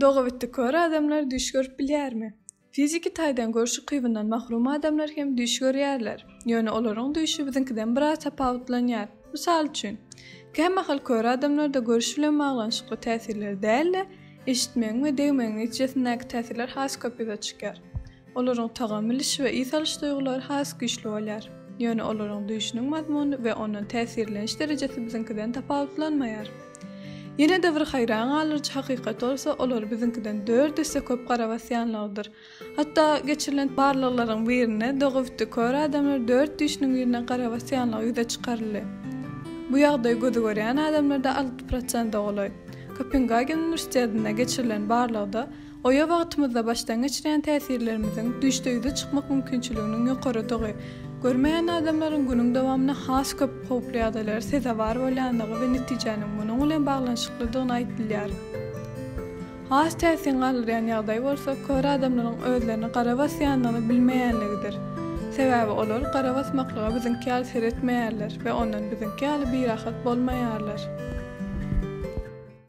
Dogabitdi kör adamlar düýş görüp bilýärmi? Fiziki taýdan görüş ukybyndan mahrum adamlar hem düýş görýärler. Ýöne olaryň düýşi biziňkiden biraz tapawutlanýar. Mysal üçin, kämahal kör adamlarda görüş bilen baglanyşykly täsirler däl-de, eşitmegiň we degmegiň netijesindäki täsirler has köp ýüze çykýar. Olaryň tagam bilişi we ys alyş duýgulary has güýçli bolýar. Ýöne olaryň düýşüniň mazmuny we ondan täsirleniş derejesi biziňkiden tapawutlanmaýar. Ýene-de bir haýran galdyryjy hakykat bolsa, olar biziňkiden dört esse köp gara basýanlygydyr. Hatda geçirilen barlaglaryň birinde dogabitdi kör adamlar dört düýşüniň birine gara basýanlygy ýüze çykaryldy. Bu ýagdaý gözi görýän adamlarda alty prosente golaý. Kopengagen uniwersitetinde geçirilen barlagda, Oýa wagtymyzda başdan geçirýän täsirlerimiziň düýşde ýüze çykmak mümkinçiliginiň ýokarydygy, görmeýän adamlaryň günüň dowamynda has köp howply ýagdaýlara sezewar bolýandygy we netijäniň munuň bilen baglanyşyklydygyny aýdylýar. Has täsin galdyrýan ýagdaý bolsa kör adamlaryň özlerini gara basýandygyny bilmeýänligidir. Sebäbi olar gara basmaklyga biziňki ýaly seretmeýärler we ondan biziňki ýaly birahat bolmaýarlar.